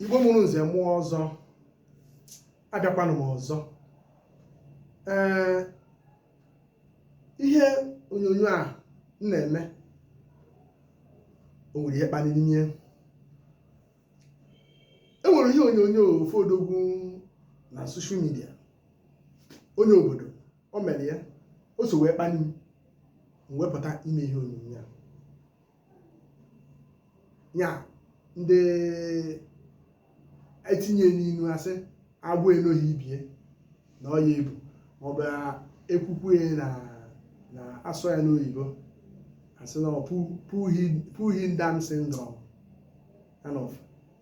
igbo mụrụ nze mụọ ọzọ abịakwanụ m ọzọ ee ihe onyonyo a m na-eme o nwere ihe kpaliri nye e nwere ihe onyonyo ofu odogwu na soshal midia onye obodo o mere ya o so wee kpani m m wepụta ime ihe onyonyo a ya ndị etinye n'inu asị agwọ enoghị ibie na ọ ya ebu maọbụ ekwukwe ya na na asụọ ya n'oyibo asị na ọ pu- pull him pull him down syndrome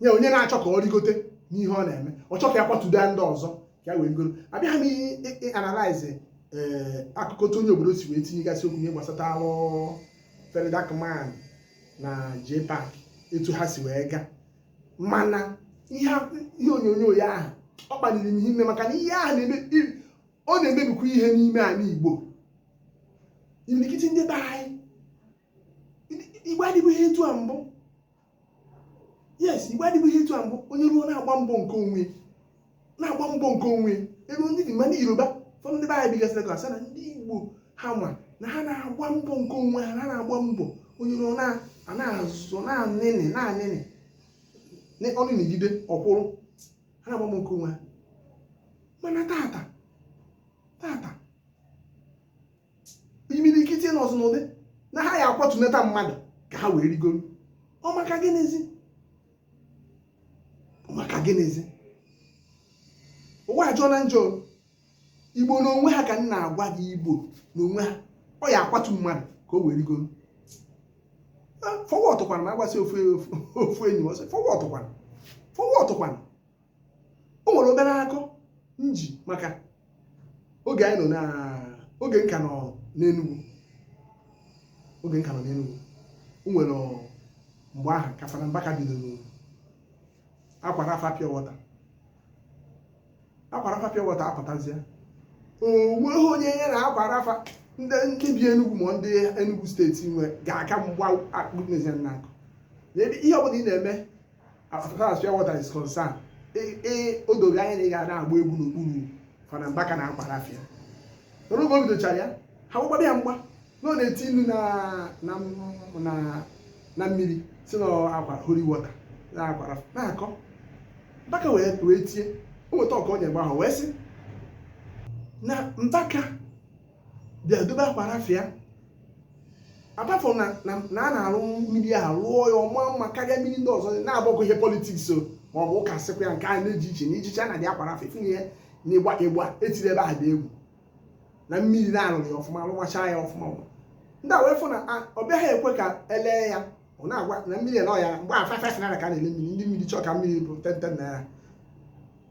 ee onye na-achọ ka ọ rigote n'ihe ọ na-eme ọ chọ ka ya kwatuda ndị ọzọ ka ya wee rigoro abịaghị m ị analyze eh, akụkọ otu onye obodo si wee tinyegasị okwu ihe gbasatalụ VeryDarkMan na Jpac etu ha si wee gaa mana ihe onyonyo ya ahụ ọ kpaliri m ime maka na ihe ahụ ọ na-emebikwa ihe n'ime ala Igbo imirikiti ndị be anyị igbo adịbughị etu a mbụ yes igbo adịbughị etu a mbụ onye ruo na-agba mbọ nke onwe na-agba mbọ nke onwe ebe ndị dị ma ndị yoruba ụfọdụ ndị be anyị bigasịrị ka asị na ndị igbo ha ma na ha na-agba mbọ nke onwe ha na ha na-agba mbọ onye ruo na-azụ na-anịnị na-anịnị na ọnụ na-egide ọkwụrụ ha na-agba mbọ nke onwe ha mana tata tata imirikiti nọzị n'ụdị na ha ya akwatunata mmadụ ka ha wee rigoro ọ maka gịnịzi maka gịnịzi ụwa ajọọna njọ igbo na onwe ha ka m na-agwa gị igbo na onwe ha ọ ya akwatu mmadụ ka o wee rigoro fọwọtụkwana ma agbasi ofu enyi ọsọ fọwọtụkwana fọwọtụkwana o nwere obere akụkọ m ji maka oge anyị nọ na oge m ka nọ n'Enugu oge m ka nọ n'Enugu o nwere mgbe ahụ ka Fada Mbaka bidoro Aqua Rapha pure water Aqua Rapha pure water apụtazie o nweghị onye ya na Aqua Rapha ndị ndị bi Enugu ma ndị Enugu steeti nwe ga-aka mgba akpụkpezi na akụ na ebe ihe ọbụla ị na-eme as far as pure water is concerned ee e, e, o dogo anya na ị ga na-agba egwu n'okpuru Fada Mbaka na Aqua Rapha n'oge o bidochara ya ha gbagbara ya mgba na ọ na-eti nnu na mmiri sị na aqua holy water na Aqua Rapha na-akọ mbaka wee tie o nweta ọka ọ nyere mgbe ahụ wee sị na mbaka bịa dobe Aqua Rapha apart from na na a na-arụ mmiri a rụọ ya ọma mma karịa mmiri ndị ọzọ na-agbakọ ihe politics o ma ọ bụ ụka sịkwa ya nke a na-eji iche na ijicha na dị Aqua Rapha ifunye ya na ịgba ịgba etiri ebe ahụ dị egwu na mmiri na-arụrụ ya ọfụma rụmachaa ya ọfụma ndị a wee fụ na ọ bịaghị ekwe ka e lee ya ọ na-agwa na mmiri nọ ya mgbe a five naira ka a na-ele mmiri ndị mmiri chọọ ka mmiri bụ ten ten naira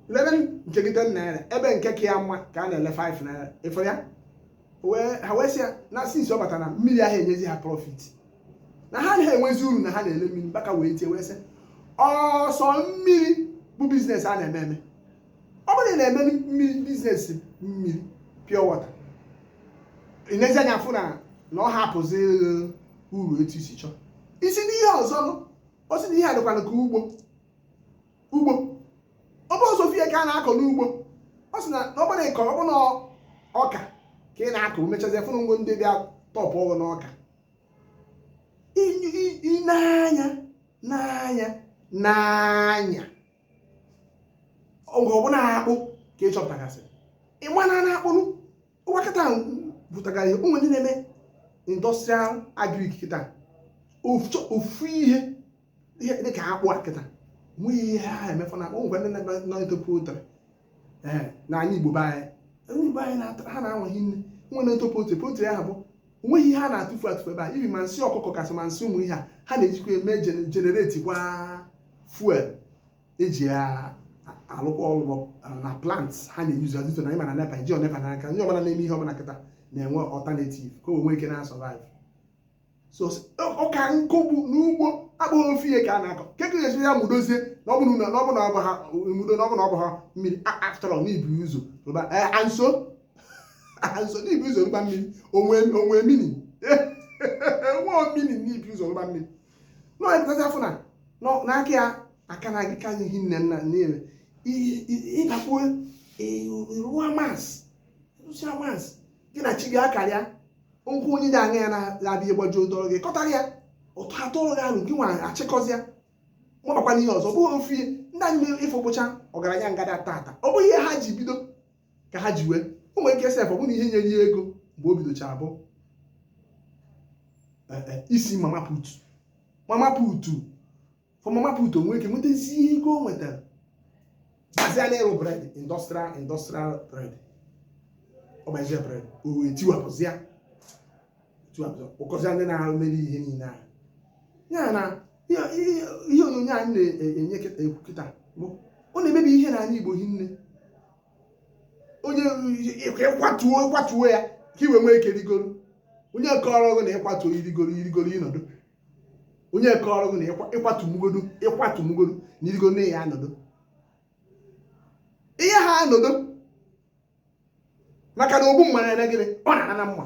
lebe nke gị ten naira ebe nke ka ya mma ka a na-ele five naira ị fụ ya ha wee sị ya na since ọ bata na mmiri aha enyezi ha profit na ha anaha enwezi uru na ha na-ele mmiri Mbaka wee tie wee sị ọ sọ mmiri bụ business a na-eme eme ọ bụrụ na ị na-eme mmiri business mmiri pure water i nezie anya fụ na na ọ ha apụzi uru etu i si chọọ i si n'ihe ọzọ nụ ọ sị na ihe a dịkwanụ ka ugbo ugbo ọ bụ sọ ofu ihe ka a na-akọ n'ugbo ọ sị na na ọ bụrụ ịkọ ọ bụrụ na ọka ka ị na-akọ mechazie fụrụ ngwo ndị bịa tọpụ ọgụ n'ọka I- i- i- nee anya nee anya nee anya oge ọbụla ha akpụ ka ị chọpụtagasị ị ma na na akpụ nụwa kịta bụtagara ihe ụmụ ndị na-eme industrial agric kịta ofu ihe ihe dị ka akpụ a kịta nweghị ihe ha emefu na akpụ ngwa ndị na-eme nọ into poultry na anyị igbo be anyị onye igbo anyị ha na-anwaghị nne nwere into poultry poultry ahụ bụ onweghị ihe a na-atụfu atụfu ebe a even ma nsị ọkụkọ kasị ma nsị ụmụ ihe a ha na-ejikwa eme generate kwa fuel eji alụkwa ọlụ na plant ha na-euse azụto na ị ma na NEPA ejiho NEPA n'aka ndị ọbụla na-eme ihe ọbụla kịta na-enwe alternative ka o nwee ike na-asurvive so ọ ka na-akọ bụ n'ugbo abụghị ofu ihe ka a na-akọ kee ka a ga-esi ya mụdozie na ọ bụrụ na ọ bụrụ na ọ bụ ha mụdo na ọ bụrụ na ọ bụ ha mmiri after all n'ibu ụzọ rụba anso anso n'ibu ụzọ rụba mmiri onwe onwe mini nwa mini n'ibu ụzọ rụba mmiri na ọ pụtazi afọ na n'aka ya aka na agịka anyị hi nne nna niile ị bakwuo rụwa mas rụsịa mas gị na chi gị akarịa ụkwụ onye dị anya ya na-abịa ịgbaji odọrọ gị kọtara ya ụtọ atụrụ gị ahụ gị nwa achịkọzịa mabakwa n'ihe ọzọ ọ bụghị ofu ihe ndị anyị mere ị fụ bụcha ọgaranya ngada taata ọ bụghị ihe ha ji bido ka ha ji wee o nwere ike sef ọ bụrụ na ihe nyere ya ego mgbe o bidochara bụ e, e, isi mama put mama put from mama put o nwee ike nwetazie ego o nwetara bazie na ịrụ bread industrial bread ọ gbazie bread o wee tiwapụzịa ụkọzịa ndị na-arụ mere ihe niile ahụ ya na ihe ihe- ihe onyonyo anyị na-enye ekwu kịta bụ ọ na-emebi ihe n'ala Igbo hinne onye ị kwatuo ya ka i wee nwee ike rigoro onye kọrọ gị na ị kwatuo i rigoro ị nọdụ onye kọrọ gị na ị kwatu mụ godu na i rigo na ị ya-anọdụ ị yaha anọdụ maka na ogbu mma na-eme gịnị ọ na-ana na mma